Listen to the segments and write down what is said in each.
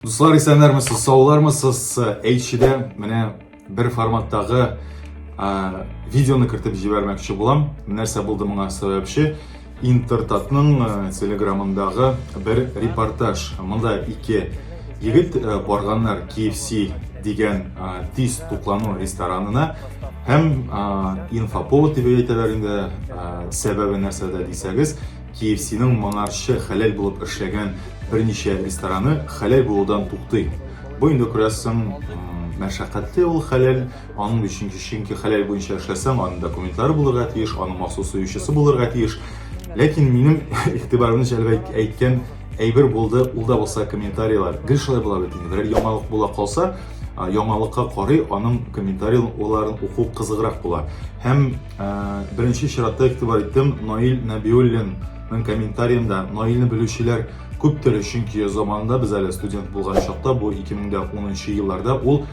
Дуслар, исәннәрмесез, саулармысыз? Әйтчедә менә бер форматтагы видеоны кертеп җибәрмәкче булам. Нәрсә булды моңа сәбәпче? Интертатның телеграмындагы бер репортаж. Монда ике егет барганнар KFC дигән тиз туклану ресторанына һәм инфоповод дип әйтәләр инде, сәбәбе нәрсәдә дисәгез, KFC-ның моңарчы хәләл булып эшләгән берничә рестораны хәләл булудан туктый. Бу инде күрәсең, мәшәкатьле ул хәләл, аның өчен чөнки хәләл буенча эшләсәң, аның документлары булырга тиеш, аның махсус суючысы булырга тиеш. Ләкин минем игътибарымны җәлеп әйткән әйбер булды, ул да булса комментарийлар. Гел шулай була бит инде. Берәр яңалык була калса, яңалыкка карый, аның комментарийларын уку кызыграк була. Һәм Беренче чиратта игътибар иттем Наил Нәбиуллин Мен комментариемда Наилне белүчеләр күптер, чөнки заманында без әле студент булган чакта, бу 2010 елларда ул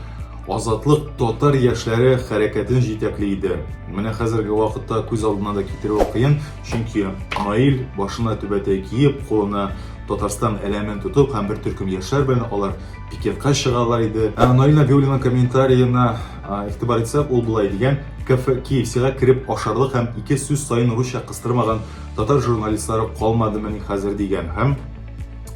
Азатлык татар яшьләре хәрәкәтен җитәкли иде. Менә хәзерге вакытта күз алдына да китерү кыен, чөнки Наил башына түбәтәй киеп, кулына Татарстан әләмен тотып һәм бер төркем яшьләр белән алар пикетка чыгалар иде. Ә Наил Нәбиуллинның комментариена Игътибар итсәк, ул болай дигән, КФКИ-сига кереп ашарлык һәм ике сүз саен русча кыстырмаган татар журналистлары калмадымыни хәзер дигән һәм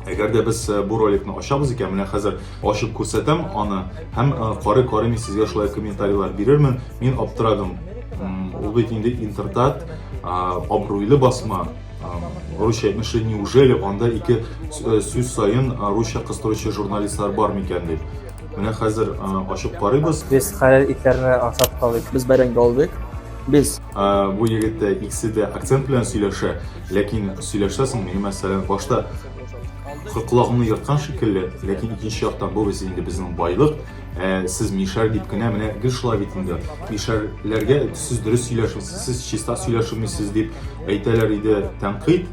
Әгәр дә без э, бу роликны ачабыз икән, менә хәзер ачып күрсәтәм аны һәм э, карый карый мин сезгә шулай комментарийлар бирермен. Мин аптырадым. Ул бит инде интертат, абруйлы басма, русча әйтмешли, неужели анда ике э, сүз саен русча кыстыручы журналистлар бар микән дип. Менә хәзер ачып карыйбыз. Без хәләл итләрне ашап калыйк. Без бәрәңге алдык. Без. Бу егеттә икесе дә акцент белән сөйләшә, ләкин сөйләшсә соң, миңа мәсәлән, башта колагымны ерткан шикелле, ләкин икенче яктан бу без инде безнең байлык, сез мишәр дип кенә менә гел шулай бит инде. Мишәрләргә сез дөрес сөйләшмисез, сез чиста сөйләшмисез дип әйтәләр иде тәнкыйть.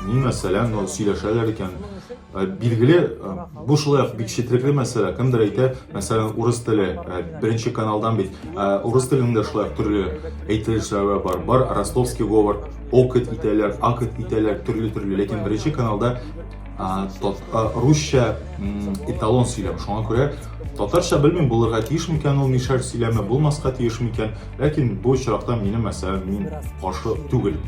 Мин мәсәлән, сөйләшәләр икән, Э, билгеле э, бу шулай ук бик четерекле мәсьәлә кемдер әйтә мәсәлән урыс теле э, беренче каналдан бит урыс телендә шулай ук төрле әйтелешләр бар бар ростовский говор окет итәләр акет итәләр төрле төрле ләкин беренче каналда русча эталон сөйләм шуңа күрә татарча белмим булырга тиеш микән ул мишәр сөйләме булмаска тиеш микән ләкин бу очракта минем мәсәлән мин каршы түгел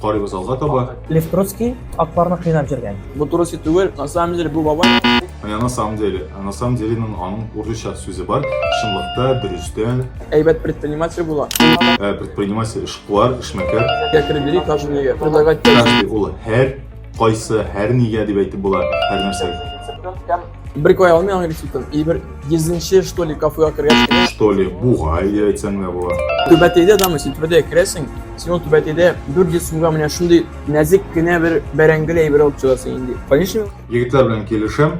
Карыйбыз алга таба. Лев Троцкий атларны кыйнап җөргән. Бу турысы түгел, на самом деле бу бабай. Менә на самом деле, на самом деле ның аның урысча сүзе бар. Чынлыкта, дөрестән. Әйбәт предприниматель була. Ә, предприниматель эшкуар, эшмәкәр. Кәкре бери, каждый егет. Предлагать. Каждый ул һәр Кайсы, һәр нигә дип әйтеп була, һәр нәрсә. Бер куя алмый аңгыр сүтем. И бер йөзенче, что ли, кафега кергәч. Что ли, бугай дип әйтсәң дә була. Түбәтәйдә дәме, син түбәтәйгә керәсең. Син ул түбәтәйдә 400 сумга менә шундый нәзик кенә бер бәрәңгел әйбер алып чыгасың инде. Конечно? Егетләр белән килешәм.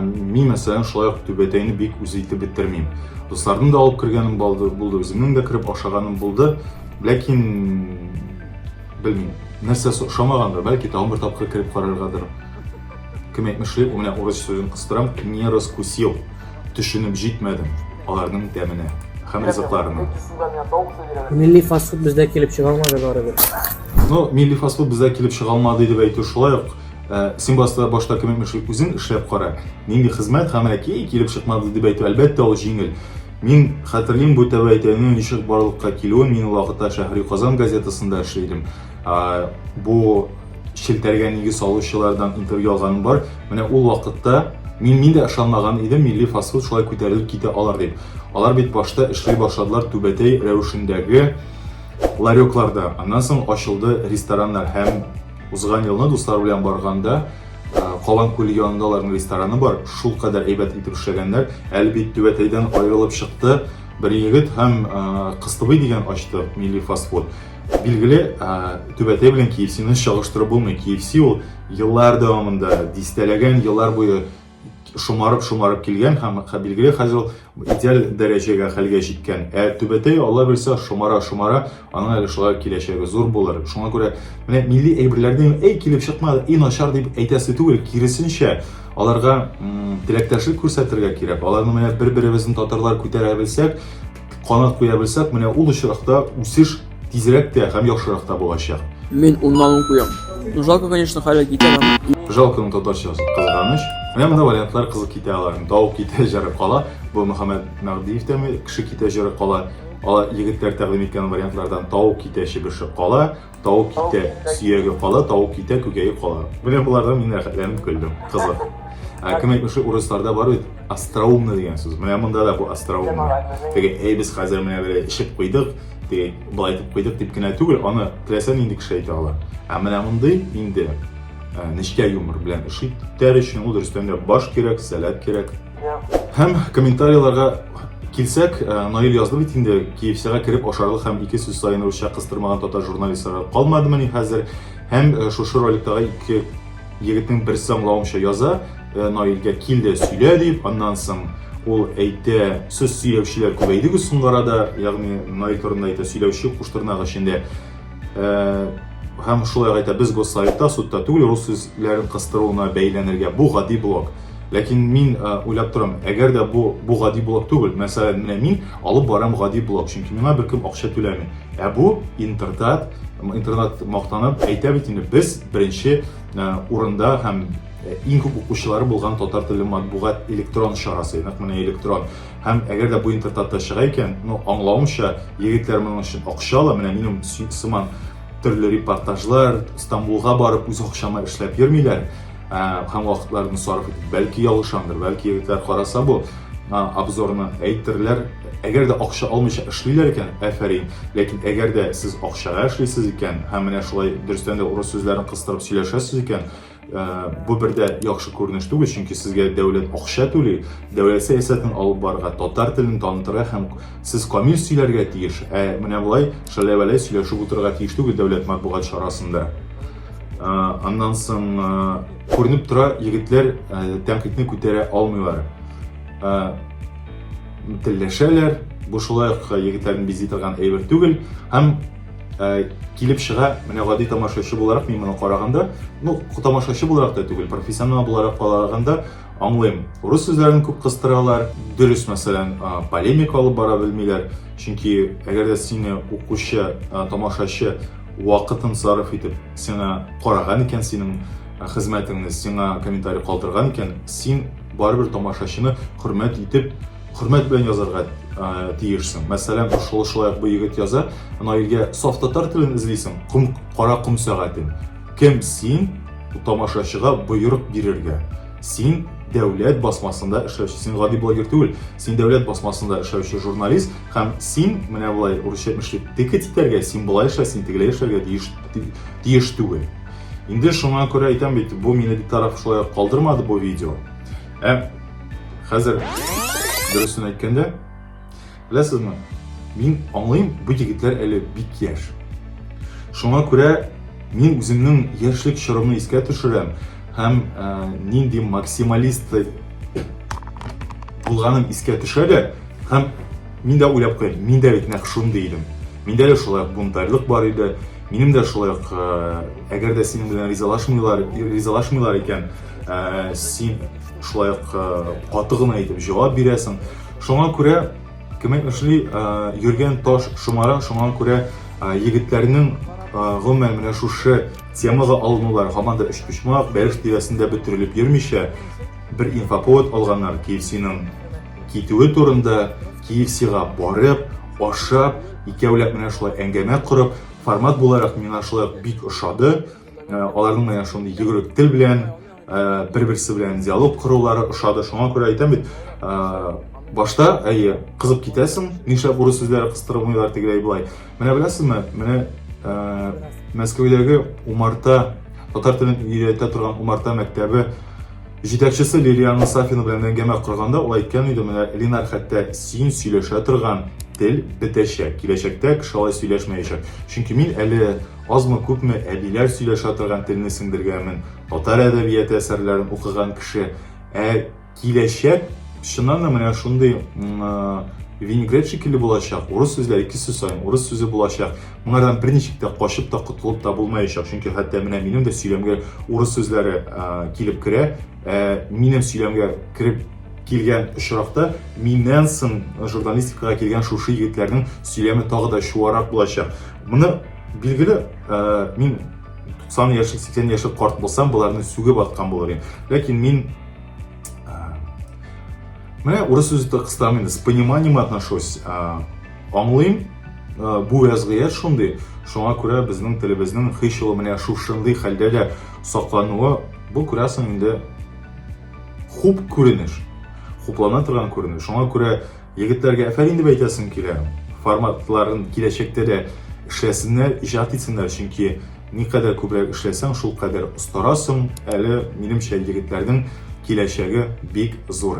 Мин мәсәлән шулай ук түбәтәйне бик үз итеп бетермим. Дусларның да алып кергәнем булды, үземнең дә кереп ашаганым булды. Ләкин Белмим. Нәрсәсе ошамагандыр, бәлки тагын бер тапкыр кереп караргадыр. Кем әйтмешли, ул менә урыс сүзен кыстырам, не раскусил. Төшенеп җитмәдем аларның тәменә һәм ризыкларына. Милли фастфуд бездә килеп чыга алмады барыбер. Ну, милли фастфуд бездә килеп чыга алмады дип әйтү шулай ук Э, син башта башта кем үзең эшләп кара нинди хезмәт һәм әки килеп чыкмады дип әйтү әлбәттә ул җиңел Мин хәтерлим бу тәбәйтәйнең ничек барлыкка килүен, мин вакытта Шәһри Казан газетасында эшли идем. Бу челтәргә нигез салучылардан интервью алганым бар. Менә ул вакытта мин мин дә ышанмаган идем, милли фастфуд шулай күтәрелеп китә алар дип. Алар бит башта эшли башладылар түбәтәй рәвешендәге ларёкларда. Аннан соң ачылды рестораннар һәм Узган елны дуслар белән барганда, Калан күле янында аларның рестораны бар. Шул кадәр әйбәт итеп эшләгәннәр. Әле бит түбәтәйдән аерылып чыкты. Бер егет һәм Кыстыбый дигән ачты милли фастфуд. Билгеле, түбәтәй белән KFC-ны чагыштырып булмый. KFC ул еллар дәвамында, дистәләгән еллар буе шомарып-шомарып килгән һәм билгеле хәзер ул идеаль дәрәҗәгә хәлгә җиткән. Ә түбәтәй Алла бирсә шомара-шомара, аның әле шулай киләчәге зур булыр. Шуңа күрә менә милли әйберләрне әй килеп чыкмады, и начар дип әйтәсе түгел, киресенчә, аларга теләктәшлек күрсәтергә кирәк. Аларны менә бер-беребезне татарлар күтәрә белсәк, Канат куя белсәк, менә ул очракта үсеш тизрәк тә һәм яхшырак та булачак. Мин уннан ун куям. Ну, жалко, конечно, хәле китә. Жалконың татарчасы кызганыч. Менә мондый вариантлар кызыл китә аларның. Тау китә, җыры кала. Бу Мөхәммәд Мәгдиевтәме кеше китә, җыры кала. Алар егетләр тәкъдим иткән вариантлардан тау китә, чебеше кала. Тау китә, сөяге кала, тау китә, күкәе кала. Менә болардан мин рәхәтләнеп көлдем. Кызык. Ә кем әйтмешли, урысларда бар бит остроумный дигән сүз. Менә монда да бу остроумный. Теге, әй без хәзер менә бер эчеп куйдык, теге былай итеп куйдык дип кенә түгел, аны теләсә нинди кеше әйтә ала. Ә менә мондый инде нечкә юмор белән эш итәр өчен ул дөрестән дә баш кирәк, сәләт кирәк. Һәм комментарийларга килсәк, э, Наил язды бит инде, KFC-га кереп ашарлык һәм ике сүз саен русча кыстырмаган татар журналистлары калмадымыни хәзер? Һәм э, шушы роликтагы ике егетнең берсе аңлавымча яза, э, Наилгә кил дә сөйлә дип, аннан соң ул әйтә, сүз сөйләүчеләр күбәйде соңгы арада, ягъни Наил турында әйтә, сөйләүче куштырнак эчендә. Э, һәм шулай ук әйтә, без госсоветта, судта түгел, рус сүзләрен кыстыруына бәйләнергә бу гади блок. Ләкин мин э, уйлап торам, әгәр дә бу бу гади блок түгел, мәсәлән, менә мин алып барам гади блок, чөнки миңа беркем акча түләми. Ә бу интертат, интернат мактанып әйтә бит инде, без беренче э, урында һәм иң күп укучылары булган татар теле матбугат электрон чарасы, нәкъ менә электрон. Һәм әгәр дә бу интертатта чыга икән, ну, аңлавымча, егетләр моның өчен акча ала, менә минем сыман төрле репортажлар, Стамбулга барып үз акчама эшләп йөрмиләр ә, һәм вакытларын сарыф итеп. Бәлки ялгышамдыр, бәлки егетләр караса бу обзорны әйтерләр. Әгәр дә акча алмыйча эшлиләр икән, әфәрин. Ләкин әгәр дә сез акчага эшлисез икән һәм менә шулай дөрестән дә урыс сүзләрен кыстырып сөйләшәсез икән, Э, бу бер дә яхшы күренеш түгел, чөнки сезгә дәүләт акча түли, дәүләт сәясәтен алып барырга, татар телен танытырга һәм сез камил сөйләргә тиеш, ә менә болай шәләвәләй сөйләшеп утырырга тиеш түгел дәүләт матбугат чарасында. Э, аннан соң э, күренеп тора, егетләр тәнкыйтьне күтәрә алмыйлар. Телләшәләр, бу шулай ук егетләрне бизи торган әйбер түгел һәм Э, килеп чыга менә гади тамашачы буларак мин моны караганда ну тамашачы буларак та түгел профессионал буларак караганда аңлыйм урыс сүзләрен күп кыстыралар дөрес мәсәлән полемика алып бара белмиләр чөнки әгәр дә сине укучы тамашачы вакытын сарыф итеп сиңа караган икән синең хезмәтеңне сиңа комментарий калдырган икән син барыбер тамашачыны хөрмәт итеп Хөрмәт белән язарга тиешсең. Мәсәлән, шулай шулай бу егет яза, Наилгә саф татар телен эзлисең, ком, кара ком сәгатен. Кем син тамашачыга боерык бирергә? Син дәүләт басмасында эшләүче, син гади блогер түгел, син дәүләт басмасында эшләүче журналист һәм син менә болай урысча әйтмешли текет итәргә, син болай эшлә, син тегеләй эшләргә тиеш, тиеш түгел. Инде шуңа күрә әйтәм бит, бу мине битараф шулай калдырмады бу видео. Ә хәзер дөресен әйткәндә, беләсезме, мин аңлыйм, бу егетләр әле бик яшь. Шуңа күрә мин үземнең яшьлек чорымны искә төшерәм һәм ә, нинди максималист булганым искә төшә дә, һәм мин дә уйлап куям, мин дә бит нәкъ шундый идем. Миндә дә шулай бунтарьлык бар иде. Минем дә шулай ук, әгәр дә синең белән ризалашмыйлар, ризалашмыйлар икән, ә, син шулай ук э, каты гына итеп җавап бирәсең шуңа күрә кеме эшли э, йөргән таш шомара шуңа күрә э, егетләрнең гомумән менә шушы темага алынулар һаман да өчпочмак бәлеш тирәсендә бөтерелеп йөрмичә бер инфоповод алганнар киевсиның китүе турында киевсига барып ашап икәүләп менә шулай әңгәмә корып формат буларак миңа шулай бик ошады аларның менә шундый йөгерек тел белән бер берсе белән диалог корулары ошады шуңа күрә әйтәм бит башта әйе кызып китәсең нишләп урыс сүзләре кыстырылмыйлар тегеләй болай менә беләсезме менә мәскәүдәге умарта татар телен өйрәтә торган умарта мәктәбе җитәкчесе лилиана сафина белән әңгәмә корганда ул әйткән иде менә линар хәтта син сөйләшә торган тел бетәчәк киләчәктә кеше алай сөйләшмәячәк чөнки мин әле Азмы-күпме әбиләр сөйләшә торган телне сеңдергәнмен, татар әдәбияты әсәрләрен укыган кеше. Ә киләчәк, чыннан да менә шундый винегрет шикелле булачак, урыс сүзләре ике сүз саен урыс сүзе булачак. Моңардан берничек тә качып та котылып та булмаячак, чөнки хәтта менә минем дә сөйләмгә урыс сүзләре килеп керә. Ә минем сөйләмгә кереп килгән очракта миннән соң журналистикага килгән шушы егетләрнең сөйләме тагы да чуарак булачак. Моны билгеле, ә, мин 90 яшьлек, 80 яшьлек карт булсам, боларны сүгеп аткан булыр идем. Ләкин мин ә, менә урыс сүзе кыстам инде, с пониманием отношусь. Ә, аңлыйм, ә, бу вәзгыять шундый. Шуңа күрә безнең телебезнең һич ул менә шушындый хәлдә дә саклануы, бу күрәсең инде хуп күренеш. Хуплана торган күренеш. Шуңа күрә Егетләргә әфәрин дип әйтәсем килә. Форматларын киләчәктә дә эшләсеннәр, иҗат итсеннәр, чөнки никадәр күбрәк эшләсәң, шулкадәр остарасың. Әле, минемчә, егетләрнең киләчәге бик зур.